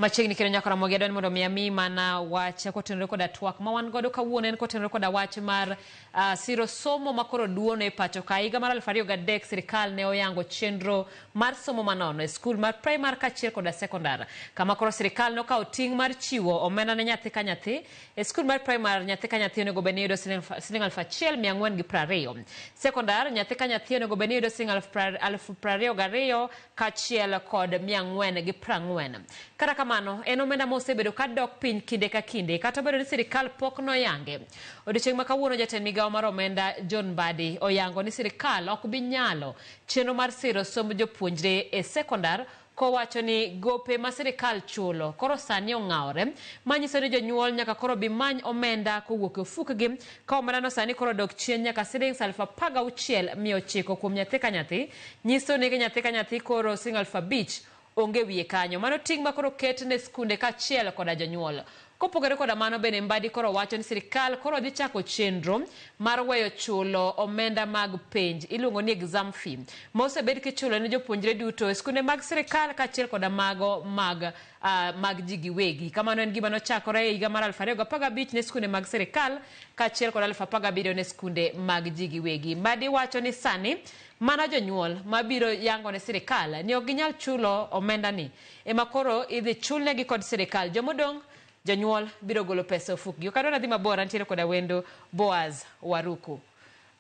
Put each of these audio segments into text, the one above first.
Machiegni kendo nyaka Ramogi adwani mondo mi ami mana wach kotenore koda twak ma wan godo kawuono en kotenore koda wach mar uh, siro somo ma koro duono e pacho ka higa mar 2003 sirikal ne oyango chenro mar somo manono e skul mar primary kachiel koda sekondar kama koro sirikal nokawo ting' mar chiwo omenda ne nyathi ka nyathi e skul mar primary nyathi ka nyathi onego bed ni yudo siling siling aluf achiel mia ang'wen gi prariyo sekondar nyathi ka nyathi onego bed ni yudo siling aluf pra- aluf prariyo gariyo kachiel kod mia ang'wen gi prang'wen. Kata kamano, en omenda ma osebedo ka dok piny kinde ka kinde kata obedo ni sirkal pok noyange. Odiechieng' ma kawuono jatend migawo mar omenda John Mbadi oyango ni sirkal ok bi nyalo chenro mar siro somb jopuonjre e sekondar kowacho ni gope ma sirkal chulo koro sani ong'awore manyiso ni jonyuol nyaka koro bi many omenda kowuok e ofukgi Ka omendano sani koro odok chien nyaka silings aluf apar gauchiel mia ochiko kuom nyathi ka nyathi, nyiso ni nyathi ka nyathi koro siling aluf abich onge wiye kanyo. Mano ting' ma koro oket ne skunde kaachiel koda jonyuol. Kopogore koda mano bende Mbadi koro wacho ni sirkal koro dhi chako chenro mar weyo chulo omenda mag penj, iluongo ni exam fee, ma osebed kichulo ne jopuonjre duto e skunde mag sirkal kaachiel koda mago mag uh, mag ji giwegi. Kamano en gima nochakore e higa mar 2015 ne skunde mag sirkal kaachiel kod 2017 ne skunde mag ji giwegi. Mbadi wacho ni sani mana jonyuol mabiro yango ne sirkal ni ok ginyal chulo omendani ema koro idhi chulnegi kod sirkal. Jomodong' jonyuol biro golo pesa ofukgi. Okadwa nadhi mabor antiere koda wendo Boaz Waruku.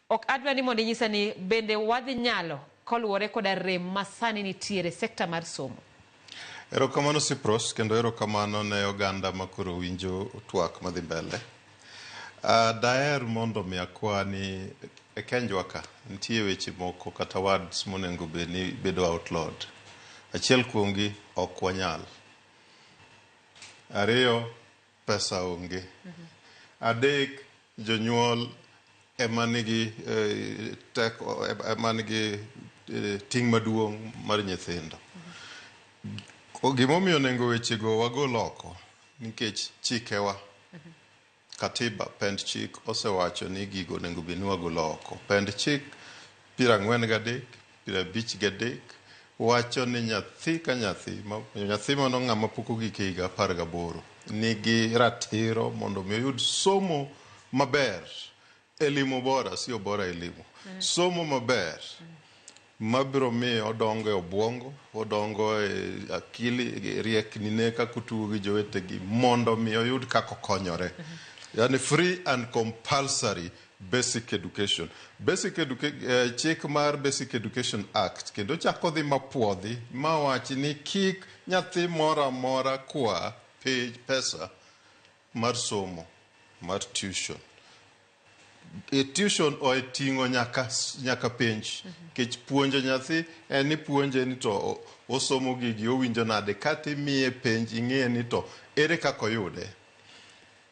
Ok adwa ni mondo inyisa ni bende wadhi nyalo koluwore koda rem ma sani nitiere sekta mar somo. Erokamano Cyprus kendo erokamano ne oganda ma koro winjo twak madhi mbele. Daher mondo mi akwa ni e kenjwa ka nitie weche moko kata words monengo bed ni bedo outlawed. Achiel kuomgi ok wanyal. Ariyo, Pesa onge. Adek, jonyuol ema nigi teko, ema nigi ting' maduong' mar nyithindo. Gima omiyo nengo wechego wagol oko nikech chikewa, Katiba, pend chik osewacho ni gigo onego bed ni wagolo oko. Pend chik Piero ang'wen gadek, piero abich gadek, wacho ni nyathi ka nyathi, nyathi mano ng'ama pok ogik e higa apar gaboro, nigi ratiro mondo mi oyud somo maber, elimu bora, sio bora elimu, mm. somo maber mabiro miyo odongo e obwongo, odongo e akili, e riekni ne kaka otugo gi jowetegi mondo mi oyud kaka okonyore. Mm -hmm. Yani free and compulsory Basic Education. Basic educa eh, chik mar Basic Education Act kendo chako dhi mapuodhi ma wachi ni kik nyathi moro amora kwa pe- pesa mar somo mar tuition. E tuition oting'o nyaka nyaka penj kech puonjo nyathi en ni puonje ni to o- osomo gigi owinjo nade kata imiye penj ing'e ni to ere kaka oyude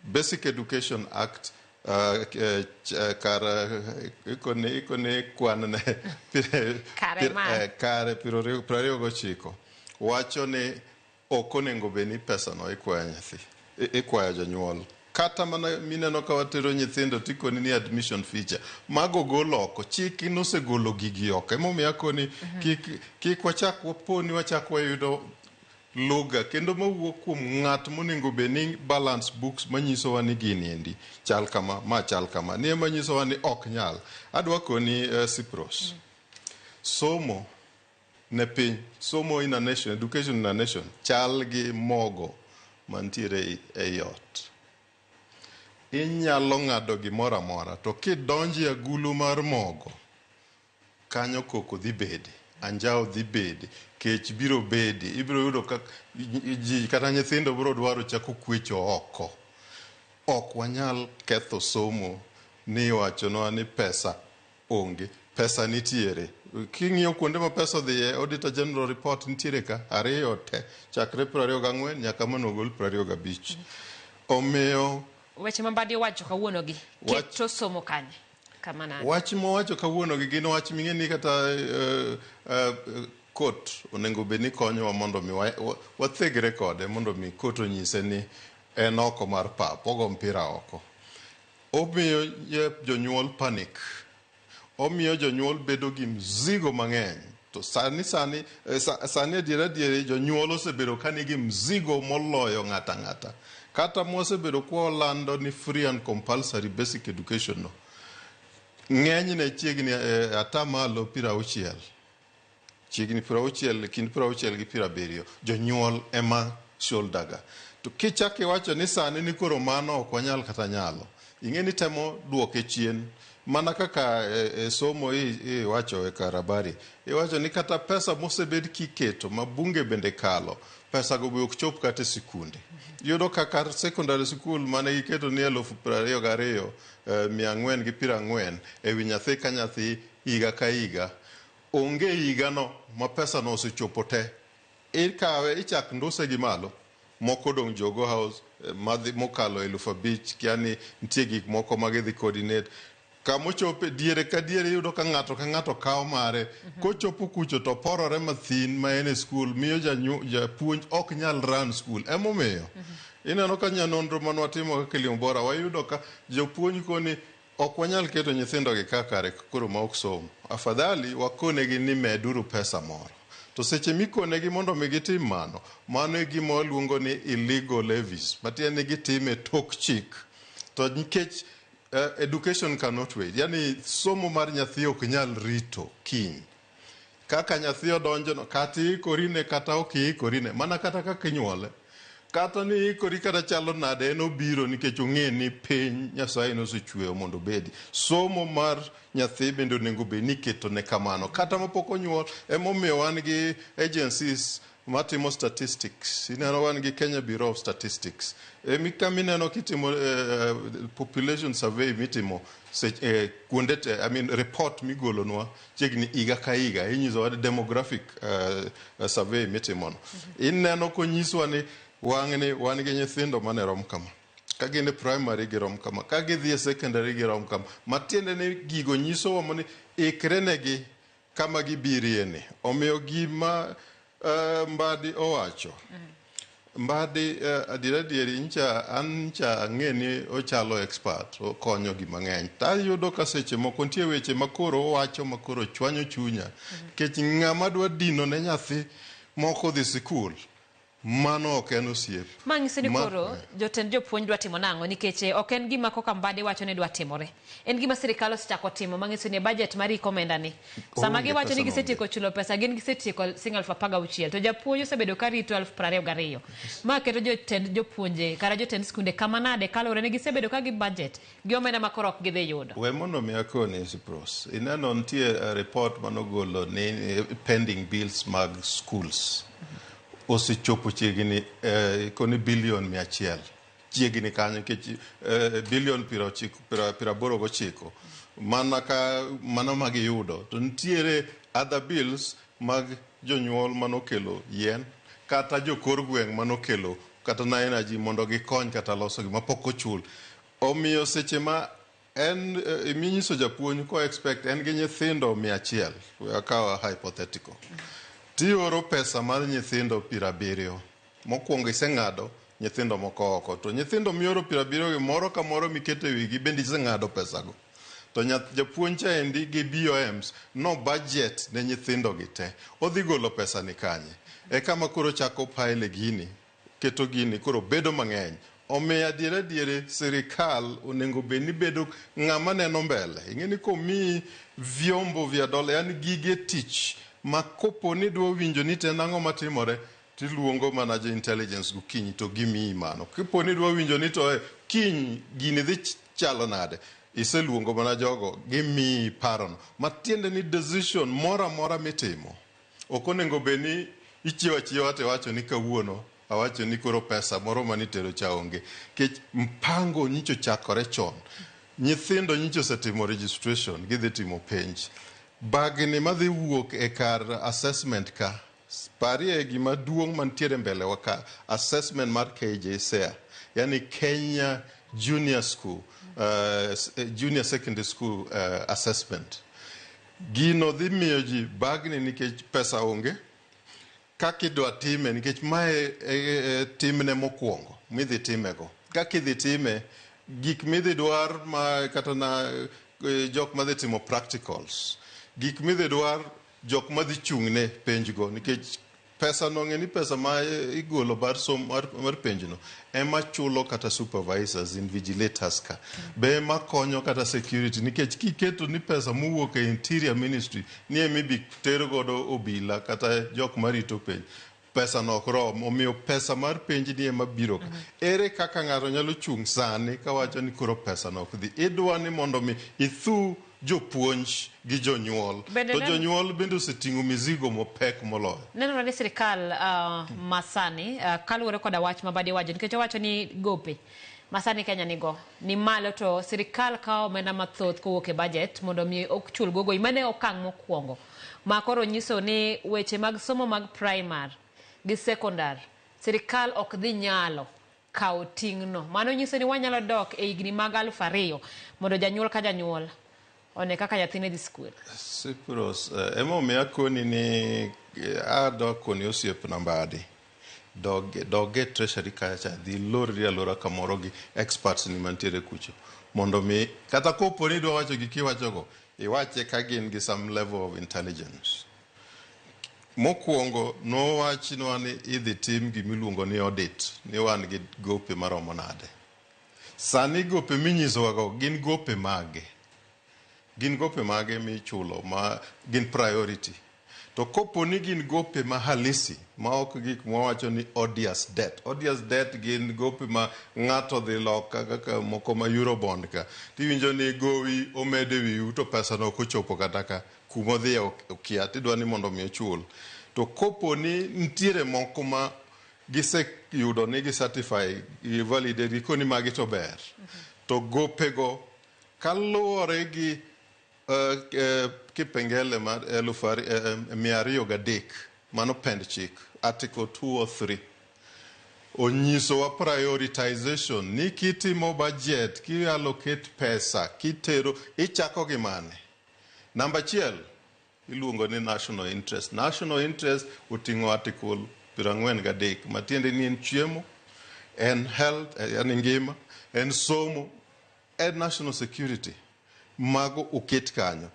Basic Education Act uh, eh, ch- eh, kar eh, iko ni iko ni kwan ne pir- Kare pir- ma. eh, kare piero ariyo piero ariyo gochiko wacho ni ok onego bed ni pesano ikwayo nyathi i- ikwayo jonyuol kata mana mineno ka watero nyithindo tikoni ni admission feature mago gol oko chik in osegolo gigi oko emomiyo akoni kik kik wachak waponi wachak wayudo Lugha kendo mawuok kuom ng'at monengo bed ni balance books manyisowa ni gini endi chal kama, ma chal kama. Ni ema nyisowa ni ok nyal. Adwa koni eh, Cyprus. Somo ne piny, somo in a nation, education in a nation chal gi mogo mantiere ei- ei ot. Inyalo ng'ado gimoro amora to kidonjo e agulu mar mogo Kanyo koko dhi bede, anjawo dhi bede, kech biro bede. Ibiro yudo ka ji kata nyithindo biro dwaro chako kwecho oko. Ok wanyal ketho somo ni iwachonwa ni pesa onge. Pesa nitiere. King'iyo kuonde ma pesa odhiye, Auditor General Report nitiere ka, ariyo te, chakre piero ariyo gang'wen nyaka ma nogol piero ariyo gabich. Omiyo. Weche ma Mbadi owacho kawuonogi, keto somo kanye? kama nade? Wach mowacho kawuono gi gin wach ming'e ni kata eh, eh, kot onego bed ni konyowa mondo mi wa- wa- wathegre kode mondo mi kot onyise ni en oko mar pap ogo mpira oko. Omiyo eh, jonyuol panic. Omiyo jonyuol bedo gi mzigo mang'eny To sani sani eh, sa- sani adiera adiera jonyuol osebedo ka nigi mzigo moloyo ng'ato ang'ata. Kata mwasebedo kwa olando ni free and compulsory basic education no. Ng'enyne chiegni eh, atamalo piero auchiel. Chiegni piero auchiel, kind piero auchiel gi piero abiriyo. Jonyuol ema shoulderga. To kichak iwacho ni sani ni koro mano ok wanyal kata nyalo. Ing'e ni temo duoke chien mana kaka e, e somo iwacho e kar habari iwacho ni kata pesa mosebed kiketo ma bunge bende kalo pesago be ok chop kata e sikunde yudo ka kar secondary school mane giketo ni elufu piero ariyo gi ariyo eh, mia ang'wen gi piero ang'wen e wi nyathi ka nyathi higa ka higa onge higano ma pesano osechopo te Ikawe ichak nduse gi malo, moko odong' Jogo House, madhi mokalo elufu abich, kia ni nitie gik moko ma gidhi coordinate. Kama ochope, diere ka diere iyudo ka ng'ato ka ng'ato kawo mare. Kochopo kucho to oporore mathin ma en e skul, miyo janyu, japuonj ok nyal run skul. Emomiyo, ineno ka nyanonro mane watimo kaka Kilimo Bora, wayudo ka jopuonj koni, Ok wanyal keto nyithindo gi ka kare koro ma ok som. Afadhali wakonegi ni meduru pesa moro. To seche mikonegi mondo mi gitim mano, mano e gima waluongo ni illegal levies, matiende ni gitime tok chik. To nikech uh, education cannot wait, yani somo mar nyathi ok nyal rito kiny. Kaka nyathi odonjono, kata iikorine kata ok iikorine, mana kata kaka inyuole, kata ni iikori kata chalo nade, en obiro nikech ong'e ni piny Nyasaye nosechueyo mondo obedi. Somo mar nyathi bende onego bed ni iketone kamano. Kata mapok onyuol, emomiyo wan gi agencies matimo statistics ineno wan gi Kenya Bureau of Statistics e mika mineno kitimo eh, population survey mitimo se, eh, kuonde te, I mean, report migolonwa chiegni higa ka higa inyisowa demographic eh, survey mitimono ineno konyiswa ni wang'ni wan gi nyithindo mane rom kama ka gin e primary girom kama ka gidhi e secondary girom kama matiende ni gigo nyisowa ni ikrenegi kama gibirie ni. Omiyo gima eh, Mbadi owacho, Mbadi eh, adiera adieri ncha an ncha ang'e ni ochalo expert, okonyo gi mang'eny. To ayudo ka seche moko nitie weche ma koro owacho ma koro chwanyo chunya. Nikech ng'ama dwa dino ne nyathi moko dhi sikul, Mano ok en osiep. Ma nyiso ni Ma- koro jotend jopuonj dwa timo nang'o nikech eh, ok en gima koka Mbadi wacho ni dwa timore. En gima sirkal osechako timo ma nyiso ni e budget mar iko omenda ni. Sama Onge giwacho ni pesa gisetieko chulo pesa gin gisetieko sing aluf apar gauchiel to japuonj osebedo ka rito aluf piero ariyo gariyo. Ma keto jotend jopuonje kata jotend skunde kama nade kaluwore ni gisebedo ka gi budget Gi omenda ma koro ok gidhi yudo. We mondo mi akoni Cyprus. Ineno nitie eh, report manogolo ni eh, pending bills mag schools osechopo chiegni eh, koni billion mia achiel chiegni kanyo nikech eh, billion piero ochiko- piero- piero aboro gochiko mana ka mano ma giyudo to nitiere other bills mag jonyuol manokelo yien kata jokor gweng' manokelo kata na energy mondo gikony kata loso gima pok ochul Omiyo seche ma en eh, minyiso japuonj ko expect en gi nyithindo mia achiel we akaw a hypothetical tioro pesa mar nyithindo piero abiriyo mokwongo iseng'ado nyithindo moko oko to nyithindo mioro piero abiriyo gi moro ka moro miketo e wigi bende iseng'ado pesago to nyath- japuonj cha endi gi BOMs no budget ne nyithindogi te odhi golo pesa ni kanye e kama koro chako pile gini keto gini koro bedo mang'eny. Omiyo adiera adieri sirikal onengo bed ni bedo ng'ama neno mbele. Ing'e ni komii vyombo vya dola yani gige tich ma kopo ni idwa winjo ni to en ang'o matimore to iluongo mana jo intelligence gokinyi to gimiyi mano. Kipo ni idwa winjo ni to e kiny gini dhi chalo nade, iseluongo mana jogo gimiyi parono. Matiende ni decision moro amora mitimo Ok onengo bed ni ichiewo achiewa to iwacho ni kawuono awacho ni koro pesa moro mane itero cha onge. Nikech mpango nyicha ochakore chon. Nyithindo nyicha osetimo registration gidhi timo penj. Bagni madhi wuok e kar assessment ka, parie gima duong' mantiere mbele wa ka, assessment mar KJSEA, yaani Kenya Junior School, uh, Junior Secondary School uh, Assessment. Gino dhi miyo ji bagni nikech pesa onge kaka idwa time nikech mae e, e, e timne mokwongo midhi timego. Kaka idhi time, gik midhi dwar ma kata na e, jok madhi timo practicals, gik midhi dwar jok madhi chung'ne penjgo nikech Pesa no ng'eni pesa ma igolo mar som mar, mar penjno ema chulo kata supervisors invigilators ka be ema konyo kata security nikech kiketo ni pesa mowuok e interior ministry ni ema ibi ter godo obila kata jok marito penj pesa no ok rom omiyo pesa mar penj ni ema biro ka ere kaka ng'ato nyalo chung' sani kawacho ni koro pesa no ok dhi idwa ni mondo mi ithu jopuonj gi jonyuol. Bende To nen- jonyuol bende oseting'o mizigo mapek moloyo. Nenore ni sirkal ah, masani ah, kaluwore koda wach ma Badi wacho nikech owacho ni gope masani Kenya nigo ni malo to sirkal kawo omenda mathoth kowuok e bajet mondo mi ochul gogo mano e okang' mokwongo ma koro nyiso ni weche mag somo mag primar gi sekondar sirkal ok dhi nyalo kawo ting'no. Mano nyiso ni wanyalo dok e higni mag aluf ariyo mondo janyuol ka janyuol one kaka nyathine dhi skul. Cyprus, eh, emomiyo akoni ni eh, adok koni osiep nambadi dog, dog e treasury kacha cha dhi lorri alora kamoro gi experts ni mantiere kucho mondo mi kata kopo ni idwa wacho gik iwachogo iwache ka gin gi some level of intelligence Mokwongo nowachnwa ni idhi tim gima iluongo ni audit ni wan gi gope maromo nade. Sani gope minyisowago gin gope mage? Gin gope mage michulo ma gin priority? To kopo ni gin gope ma halisi ma ok gik mwawacho ni odious debt. Odious debt gin gope ma ng'ato dhi loka kaka moko ma Eurobond ka. Tiwinjo ni gowi omed e wiu to pesano ok ochopo kata ka. kuma odhiye ok- okia to idwa ni mondo mi ochul to kopo ni nitiere moko ma giseyudo ni gi certify gi validate gikoni magi to ber to gopego kaluwore gi eh, eh, kipengele mar eluf ari- eh, eh, mia ariyo gadek mano pend chik article 2 or 3 onyisowa prioritization ni kitimo budget kiallocate pesa kitero ichako gi mane Namba achiel iluongo ni national interest. National interest oting'o article piero ang'wen gadek matiende ni en chiemo, en health, eh, yani ngima, en somo, en national security. Mago oket kanyo.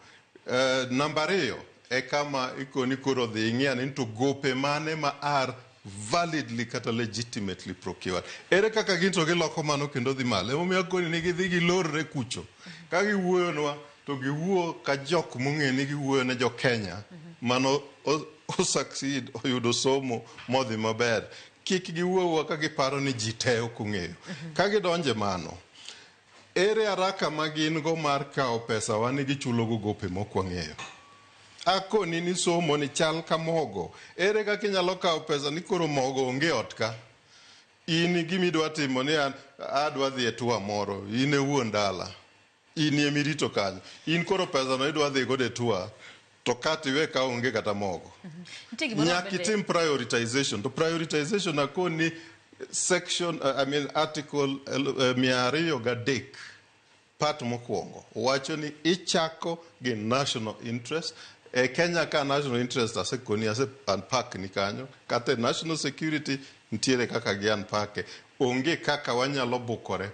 Uh, namba ariyo e kama ikoni koro dhi ing'iya ni to gope mane ma are validly kata legitimately procured. Ere kaka gin to giloko mano kendo dhi malo? Emomiyo akoni ni gidhi gilorre kucho. Ka giwuoyonwa to giwuo ka jok mong'e ni giwuoyo ne jo Kenya mano o- o succeed oyudo somo modhi maber. Kik giwuowa ka giparo ni ji te ok ong'eyo. Ka gidonje mano, Ere araka ma gin go mar kawo pesawa ni gichulogo gope mok wang'eyo? Akoni ni somo ni chal ka mogo. Ere kaka inyalo kawo pesa ni koro mogo onge ot ka? In gima idwa timo ni an adwa dhi e tour moro, in e wuon dala, in ema irito kanyo. In koro pesano idwa dhi godo e tour. to kat iwe ka onge kata mogo Nitie gimoro nyaka bende- itim prioritization to prioritization akoni section uh, I mean article uh, mia ariyo gadek part mokwongo wacho ni ichako gi national interest e kenya ka national interest asekoni ase unpack ni kanyo kata e national security nitiere kaka gi unpack Onge kaka wanyalo bukore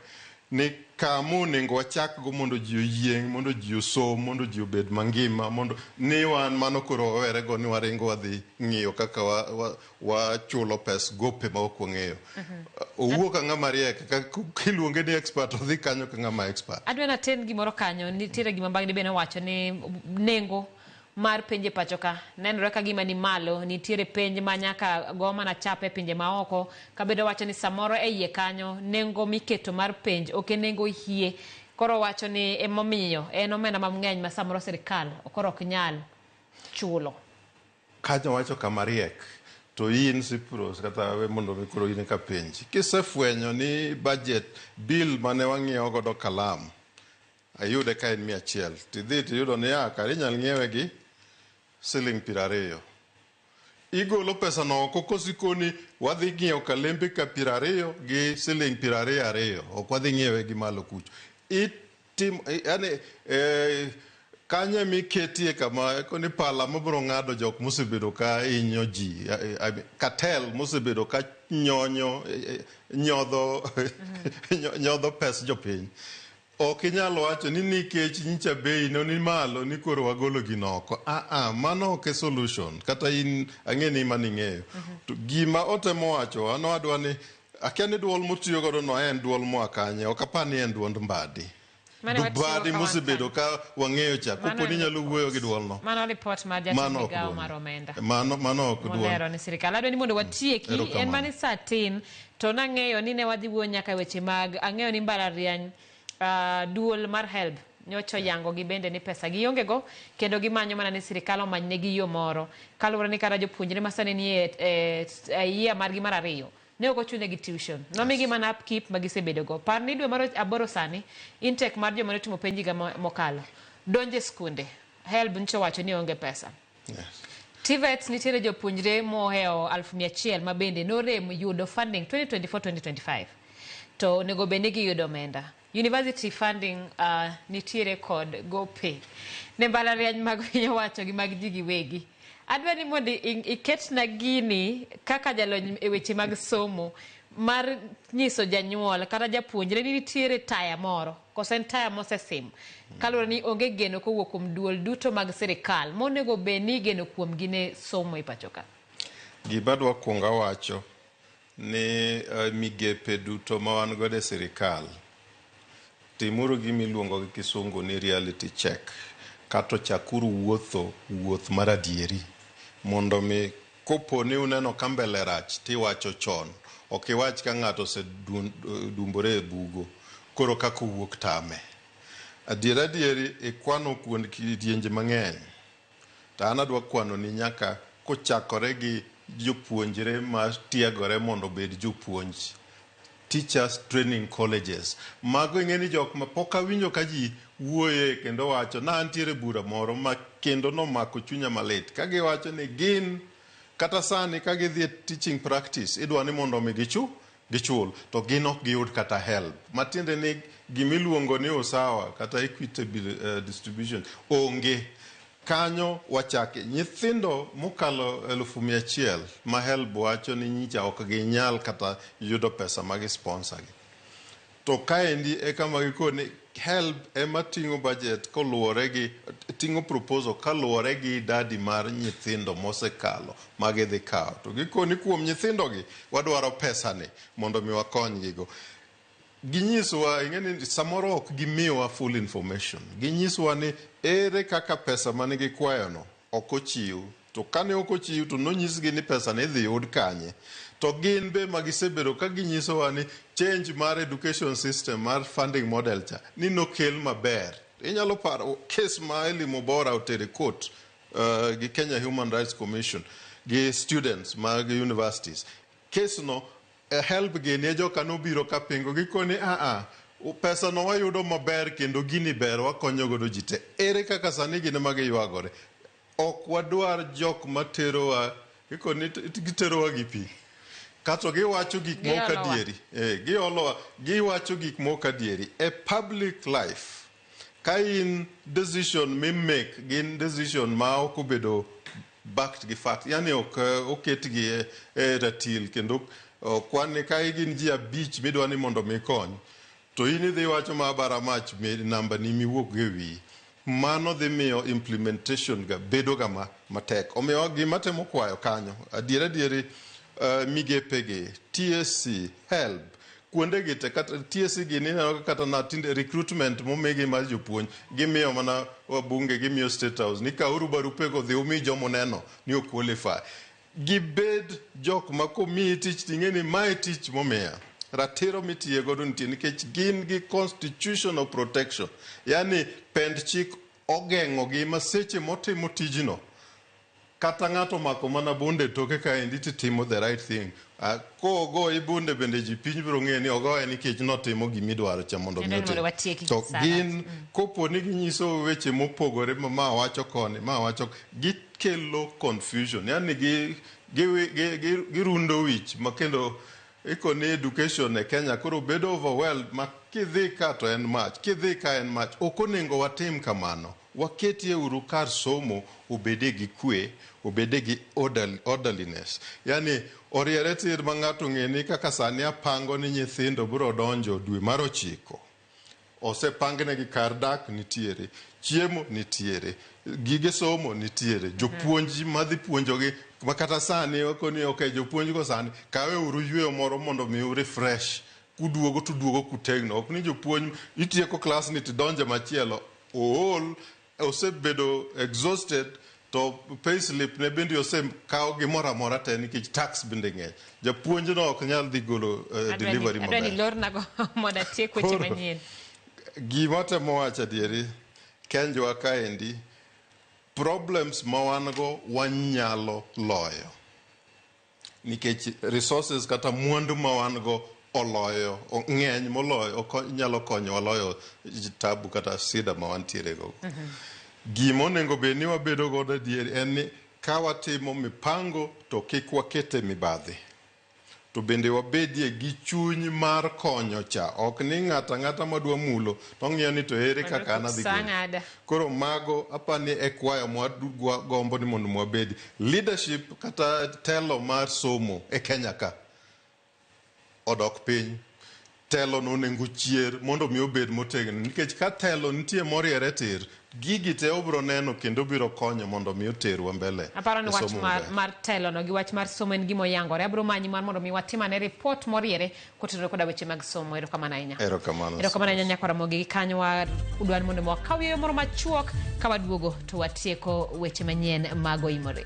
ni kama onengo wachakgo mondo ji oyieng', mondo ji osom, mondo ji obed mangima, mondo ni wan mano koro wawerego ni waringo wadhi ng'iyo kaka wa, wa, wachulo pes gope ma ok wang'eyo. Owuo ka ng'ama riek, ka kiluonge ni expert odhi kanyo ka ng'ama expert. Adwa naten gimoro kanyo, nitiere gima Mbagdi be nowacho ni nengo mar penje pachoka nenore kagima ni malo, nitiere penj ma nyaka go mana chapa e pinje ma oko kabedo wacho ni samoro e iye kanyo nengo miketo mar penj ok e nengo hie koro wacho ni emomiyo en omenda mamngeny ma samoro sirkal koro ok nyal chulo. Kanyo wacho ka mariek. To in Cyprus kata we mondo mi koro in ka penji. Kisefwenyo ni budget bill mane wang'iewo godo kalam Ayude ka en mia achiel. To idhi to iyudo ni a, kare inyal ng'iewe gi siling' piero ariyo. Igolo pesano oko koso ikoni wadhi ng'iewo kalembe ka piero ariyo gi siling' piero ariyo ariyo. Ok wadhi ng'iewe gi malo kucho. Itim, yaani eh, kanyo ema iketie kama eko ni pala mabiro ng'ado jok mosebedo ka hinyo ji, eh, eh, cartel mosebedo ka nyonyo, eh, eh, nyodho, nyodho pes jopiny. Ok inyal wacho ni nikech nyicha bei no ni malo ni koro wagolo gino oko. Ah ah, mano ok e solution. Kata in ang'e ni mano ing'eyo. To gima otemo wacho wa no adwa ni akia ni duol motiyo godo no en duol moa kanye. Ok apar ni en duond Mbadi. Mane watiyo Mbadi ka wan mosebedo ka wang'eyo cha. Mano Kopo ni en nyalo wuoyo gi duol no. Mano report mar jatend Mano ok migawo duol. mar omenda. Mano mano ok duol. Molero ni sirkal adwa ni mondo watieki en Erokamano. mani saa tin To nang'eyo ni ne wadhi wuoyo nyaka e weche mag, ang'eyo ni mbalariany, ah, duol mar HELB nyocha oyangogi bende ni pesa giongego kendo gimanyo mana ni sirikal omanynegi yo moro kaluwore ni kata jopuonjre ma sani nie e, e year margi mar ariyo ne ok ochunegi tuition. Nomigi mana upkeep ma gisebedogo. Par ni dwe mar och- aboro sani, intake mar joma notimo penj higa mo- mokalo, donjo e skunde, HELB nyocha owacho ni onge pesa. TVETs nitiere jopuonjre mohewo aluf mia achiel ma bende norem yudo funding 2024-2025 to onego bed ni giyudo omenda. University funding uh, nitiere kod gope ne mbalariany mag piny owacho gi mag ji giwegi. Adwa ni mondo iketna gini kaka jalony e weche mag somo mar nyiso janyuol kata japuonjre ni nitiere taya moro Koso en taya mosesim? Kaluwore ni onge geno kowuok kuom duol duto mag sirikal monego bed ni igeno kuomgi ne somo e pachoka. Gima adwa kuongo awacho ni migepe duto ma wan godo e sirikal, timuru gima iluongo gi kisungu ni reality check kato chakuru wuotho wuoth mar adieri mondo mi Kopo ni uneno ka mbele rach to iwacho chon, ok iwach ka ng'ato osedumbore e bugo koro kaka owuok tame. Adier adier ikwano kuond kidienje mang'eny to an adwa kwanoni nyaka kochakore gi jopuonjre matiegore mondo obed jopuonj Teachers Training Colleges. Mago ing'e ni jok ma pok awinjo ka ji wuoye kendo wacho. Ne antiere bura moro ma kendo nomako chunya malit ka giwacho ni gin kata sani ka gidhi e teaching practice idwa ni mondo omi gichu gichul to gin ok giyud kata help. Matiende ni gimiluongo ni usawa kata equitable distribution onge. Kanyo wachake. Nyithindo mokalo elufu mia achiel ma HELB wacho ni nyicha ok ginyal kata yudo pesa ma gi sponsor gi. To kaendi e kama gikoro ni HELB ema ting'o budget koluwore gi ting'o proposal kaluwore gi idadi mar nyithindo mosekalo ma gidhi kawo. To gikoni kuom nyithindo gi wadwaro pesa ni mondo mi wakonygi go. Ginyisowa, ing'e ni samoro ok gimiwa full information. Ginyisowa ni ere kaka pesa mane gikwayono ok ochiw. To kane ok ochiw to nonyisgi ni pesa no idhi yud kanye. To gin be ma gisebedo ka ginyisowa ni change mar education system mar funding model cha ni nokel maber. Inyalo paro case ma Elly Mubora otere court gi Kenya Human Rights Commission gi students mag universities. Case no E helb gini e joka nobiro ka pingo gikoni aa pesa no wayudo maber kendo gini ber wakonyo godo ji te ere kaka sani gin ema giywagore ok wadwar jok materowa gikoni giterowa gi pi kato giwacho gik mok adieri giolowa giwacho gik mok adieri e public life Ka in decision mi make gin decision ma ok obedo backed gi fact, yani ok eh, oketgi e, e ratil kendo okwan ni ka gin ji abich midwa ni mondo mi kony to in idhi wacho ma bara mach mi namba ni miwuok e wiyi mano dhi miyo implementation ga bedo ga ma, matek omiyo gima temo kwayo kanyo adier adieri eh, migepegi TSC help kuondegi te kata TSC gini ineno kata na tinde recruitment momigi mar jopuonj gimiyo mana wabunge gimiyo state house ni kauru barupego dhi umi jomo neno ni ok qualify gibed jok ma komiyi tich ting'e ni mae tich momiya ratiro mitiye godo nitie nikech gin gi constitutional protection yani pend chik ogeng'ogi ma seche motimo tijno Kata ng'ato omako mana bunde e toke kaendi to itimo the right thing. Ah, Kogoyi bunde bende ji piny biro ng'eyo ni ogoye nikech notimo gima idwaro cha mondo mi Kendo ni mondo otim. watiek gi To saa gin kopo ni ginyiso weche mopogore ma ma wacho koni, ma wacho gikelo confusion. Yaani gi gi gi gi- girundo wich ma kendo iko ni education e Kenya koro bedo overwhelmed ma kidhi ka to en mach, kidhi ka en mach. Ok onego watim kamano. Waketie uru kar somo obede gi kwe, obede gi orderliness. Yaani oriere tir ma ng'ato ong'e ni kaka sani apango ni nyithindo biro donjo dwe mar ochiko, osepangnegi kar dak nitiere, chiemo nitiere, gige somo nitiere, jopuonj madhi puonjogi makata sani wakoni ok, jopuonjgo sani kawe uru yueyo moro mondo mi u refresh Kuduogo to uduogo kutegno. Ok ni jopuonj itieko klas ni to idonjo e machielo. Ool, osebedo exhausted to pay slip ne bende osekawo gimoro amora te nikech tax bende ng'eny. Japuonjno ok nyal dhi golo eh, delivery maber. Adwani lornago mondo atiek weche Koro, manyien. Gima temo wacho adieri, kenjwa kaendi, problems ma wan go wanyalo loyo. Nikech resources kata mwandu ma wan go oloyo ng'eny moloyo oko- nyalo konyowa loyo tabu kata sida ma wantiere go. Gima onego bed ni wabedo godo adier en ni ka watimo mipango to kik wakete mibadhi. To bende wabedie gi chuny mar konyo cha. Ok ni ng'ato ang'ata ma dwa mulo to ong'iyo ni to ere kaka an adhi Sa gole. ng'ada. Koro mago aparo ni e kwayo mwagombo ni mondo mwabed leadership kata telo mar somo e Kenya ka odok piny. Telo no onego ochier mondo mi obed motegno nikech ka telo nitie moriere tir, gigi te obro neno kendo biro konyo mondo mi oterwa mbele. Aparo ni e wach somo mar, maber. mar telo no gi wach mar somo en gima oyangore. Abro manyi mar mondo mi watim ane report moriere kotenore koda weche mag somo erokamano ahinya Erokamano. erokamano ahinya nyako ramogi gi kanyo wa- udwa ni mondo wakaw yo moro machuok ka waduogo to watieko weche manyien mag oimore